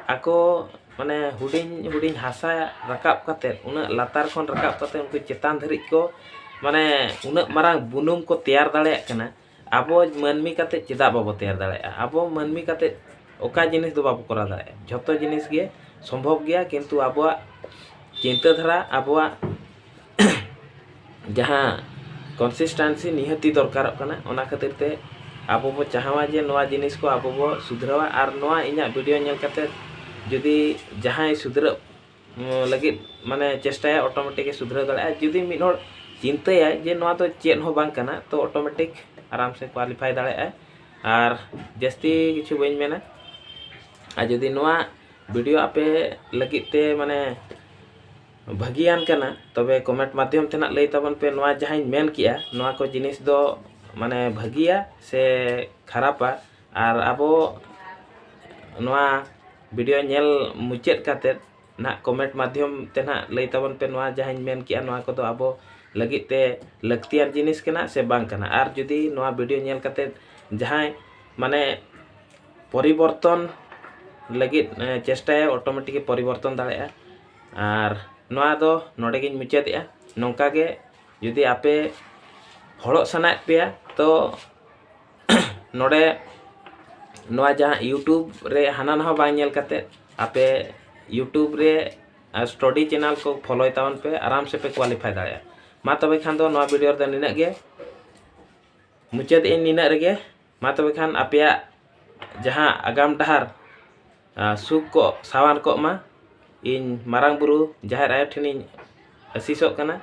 Speaker 1: ᱟᱠᱚ ᱢᱟᱱᱮ ᱦᱩᱰᱤᱧ ᱦᱩᱰᱤᱧ ᱦᱟᱥᱟ ᱨᱟᱠᱟᱵ ᱠᱟᱛᱮ ᱩᱱᱟᱹᱜ ᱞᱟᱛᱟᱨ ᱠᱷᱚᱱ ᱨᱟᱠᱟᱵ ᱠᱟᱛᱮ ᱩᱱᱠᱩ ᱪᱮᱛᱟᱱ ᱫᱷᱟᱹᱨᱤᱡ ᱠᱚ ᱢᱟᱱᱮ ᱩᱱᱟᱹᱜ ᱢᱟᱨᱟᱝ ᱵᱩᱱᱩᱢ ᱠᱚ ᱛᱮᱭᱟᱨ ᱫᱟᱲᱮᱭᱟᱜ ᱠᱟᱱᱟ ᱟᱵᱚ ᱢᱟᱹᱱᱢᱤ ᱠᱟᱛᱮ ᱪᱮᱫᱟᱜ ᱵᱟᱵᱚ ᱛᱮᱭᱟᱨ ᱫᱟᱲᱮᱭᱟᱜᱼᱟ ᱟᱵᱚ ᱢᱟᱹᱱᱢᱤ ᱠᱟᱛᱮ ᱚᱠᱟ ᱡᱤᱱᱤᱥ ᱫᱚ ᱵᱟᱵᱚ ᱠᱚᱨᱟᱣ ᱫᱟᱲᱮᱭᱟᱜᱼᱟ ᱡᱷᱚᱛᱚ ᱡᱤᱱᱤᱥ ᱜᱮ ᱥᱚᱢᱵᱷᱚᱵ ᱜᱮᱭᱟ ᱠᱤᱱᱛᱩ ᱟᱵᱚᱣᱟᱜ ᱪᱤᱱᱛᱟᱹ ᱫᱷᱟᱨᱟ ᱟᱵᱚᱣᱟᱜ ᱡᱟᱦᱟᱸ ᱠᱚᱱᱥᱤᱥᱴᱮᱱᱥᱤ ᱱᱤᱦᱟᱹᱛᱤ ᱫᱚᱨᱠᱟᱨᱚᱜ ᱠᱟᱱᱟ ᱚᱱᱟ ᱠᱷᱟᱹᱛᱤᱨ ᱛᱮ ᱟᱵᱚ ᱵᱚ ᱪᱟᱦᱟᱣᱟ ᱡᱮ ᱱᱚᱣᱟ ᱡᱤᱱᱤᱥ ᱠᱚ ᱟᱵᱚ ᱵᱚ ᱥᱩᱫᱷᱨᱟᱹᱣᱟ ᱟᱨ ᱱᱚᱣᱟ ᱤᱧᱟᱹᱜ ᱵᱷᱤᱰᱤᱭᱳ ᱧᱮᱞ ᱠᱟᱛᱮ ᱡᱩᱫᱤ ᱡᱟᱦᱟᱸᱭ ᱥᱩᱫᱷᱨᱟᱹᱜ ᱞᱟᱹᱜᱤᱫ ᱢᱟᱱᱮ ᱪᱮᱥᱴᱟᱭᱟ ᱚᱴᱳᱢᱮᱴᱤᱠ ᱮ ᱥᱩᱫᱷᱨᱟᱹᱣ ᱫᱟᱲᱮᱭᱟᱜᱼᱟ ᱡᱩᱫᱤ ᱢᱤᱫ ᱦᱚᱲ ᱪᱤᱱᱛᱟᱹᱭᱟᱭ ᱡᱮ ᱱᱚᱣᱟ ᱫᱚ ᱪᱮᱫ ᱦᱚᱸ ᱵᱟᱝ ᱠᱟᱱᱟ ᱛᱚ ᱚᱴᱳᱢᱮᱴᱤᱠ ᱟᱨᱟᱢ ᱥᱮ ᱠᱳᱣᱟᱞᱤᱯᱷᱟᱭ ᱫᱟᱲᱮᱭᱟᱜᱼᱟᱭ ᱟᱨ ᱡᱟᱹᱥᱛᱤ ᱠᱤᱪᱷᱩ ᱵᱟᱹᱧ ᱢᱮᱱᱟ ᱟᱨ ᱡᱩᱫᱤ ᱱᱚᱣᱟ ᱵᱷᱤᱰᱤᱭᱳ ᱟᱯᱮ ᱞᱟᱹᱜᱤᱫ ᱛᱮ ᱢᱟᱱᱮ ᱵᱷᱟᱹᱜᱤᱭᱟᱱ ᱠᱟᱱᱟ ᱛᱚᱵᱮ ᱠᱚᱢᱮᱱᱴ ᱢᱟᱫᱽᱫᱷᱚᱢ ᱛᱮ ᱱᱟᱜ ᱞᱟᱹᱭ ᱛᱟᱵᱚᱱ ᱯᱮ ᱱᱚᱣᱟ ᱡᱟᱦᱟᱸᱧ ᱢᱮᱱ ᱠᱮᱜᱼᱟ ᱱᱚᱣᱟ ᱠᱚ ᱡᱤᱱᱤᱥ ᱫᱚ ᱢᱟᱱᱮ ᱵᱷᱟᱹᱜᱤᱭᱟ ᱥᱮ ᱠᱷᱟᱨᱟᱯᱟ ᱟᱨ ᱟᱵᱚ ᱱᱚᱣᱟ ᱵᱷᱤᱰᱤᱭᱳ ᱧᱮᱞ ᱢᱩᱪᱟᱹᱫ ᱠᱟᱛᱮᱫ ᱱᱟᱦᱟᱜ ᱠᱚᱢᱮᱱᱴ ᱢᱟᱫᱽᱫᱷᱚᱢ ᱛᱮ ᱱᱟᱦᱟᱜ ᱞᱟᱹᱭ ᱛᱟᱵᱚᱱ ᱯᱮ ᱱᱚᱣᱟ ᱡᱟᱦᱟᱸᱧ ᱢᱮᱱ ᱠᱮᱜᱼᱟ ᱱᱚᱣᱟ ᱠᱚᱫᱚ ᱟᱵᱚ ᱞᱟᱹᱜᱤᱫ ᱛᱮ ᱞᱟᱹᱠᱛᱤᱭᱟᱱ ᱡᱤᱱᱤᱥ ᱠᱟᱱᱟ ᱥᱮ ᱵᱟᱝ ᱠᱟᱱᱟ ᱟᱨ ᱡᱩᱫᱤ ᱱᱚᱣᱟ ᱵᱷᱤᱰᱤᱭᱳ ᱧᱮᱞ ᱠᱟᱛᱮᱫ ᱡᱟᱦᱟᱸᱭ ᱢᱟᱱᱮ ᱯᱚᱨᱤᱵᱚᱨᱛᱚᱱ ᱞᱟᱹᱜᱤᱫ ᱪᱮᱥᱴᱟᱭᱟ ᱚᱴᱳᱢᱮᱴᱤᱠ ᱯᱚᱨᱤᱵᱚᱨᱛᱚᱱ ᱫᱟᱲᱮᱭᱟᱜᱼᱟ ᱟᱨ ᱱᱚᱣᱟ ᱫᱚ ᱱᱚᱰᱮ ᱜᱤᱧ ᱢᱩᱪᱟᱹᱫᱮᱜᱼᱟ ᱱᱚᱝᱠᱟ ᱜᱮ ᱡᱩᱫᱤ ᱟᱯᱮ ᱦᱚᱲᱚᱜ ᱥᱟᱱᱟᱭᱮᱫ ᱯᱮᱭᱟ ᱛᱚ ᱱᱚᱰᱮ ᱱᱚᱣᱟ ᱡᱟᱦᱟᱸ ᱤᱭᱩᱴᱩᱵᱽ ᱨᱮ ᱦᱟᱱᱟ ᱱᱟᱣᱟ ᱵᱟᱝ ᱧᱮᱞ ᱠᱟᱛᱮ ᱟᱯᱮ ᱤᱭᱩᱴᱩᱵᱽ ᱨᱮ ᱥᱴᱚᱰᱤ ᱪᱮᱱᱮᱞ ᱠᱚ ᱯᱷᱚᱞᱳᱭ ᱛᱟᱵᱚᱱ ᱯᱮ ᱟᱨᱟᱢ ᱥᱮ ᱯᱮ ᱠᱳᱣᱟᱞᱤᱯᱷᱟᱭ ᱫᱟᱲᱮᱭᱟᱜᱼᱟ ᱢᱟ ᱛᱚᱵᱮ ᱠᱷᱟᱱ ᱫᱚ ᱱᱚᱣᱟ ᱵᱷᱤᱰᱤᱭᱳ ᱨᱮᱫᱚ ᱱᱤᱱᱟᱹᱜ ᱜᱮ ᱢᱩᱪᱟᱹᱫ ᱮᱫᱟᱹᱧ ᱱᱤᱱᱟᱹᱜ ᱨᱮᱜᱮ ᱢᱟ ᱛᱚᱵᱮ ᱠᱷᱟᱱ ᱟᱯᱮᱭᱟᱜ ᱡᱟᱦᱟᱸ ᱟᱜᱟᱢ ᱰᱟᱦᱟᱨ ᱥᱩᱠ ᱠᱚᱜ ᱥᱟᱶᱟᱨ ᱠᱚᱜ ᱢᱟ ᱤᱧ ᱢᱟᱨᱟᱝ ᱵᱩᱨᱩ ᱡᱟᱦᱮᱨ ᱟᱭᱳ ᱴᱷᱮᱱᱤᱧ ᱟᱹᱥᱤᱥᱚᱜ ᱠᱟᱱᱟ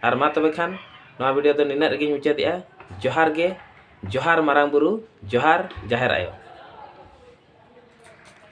Speaker 1: ᱟᱨ ᱢᱟ ᱛᱚᱵᱮ ᱠᱷᱟᱱ ᱱᱚᱣᱟ ᱵᱷᱤᱰᱤᱭᱳ ᱫᱚ ᱱᱤᱱᱟᱹᱜ ᱨᱮᱜᱮᱧ ᱢᱩᱪᱟᱹᱫᱮᱜᱼᱟ ᱡᱚᱦᱟᱨ ᱜᱮ ᱡᱚᱦᱟᱨ ᱢᱟᱨᱟᱝ ᱵᱩᱨᱩ ᱡᱚᱦᱟᱨ ᱡᱟᱦᱮᱨ ᱟᱭᱳ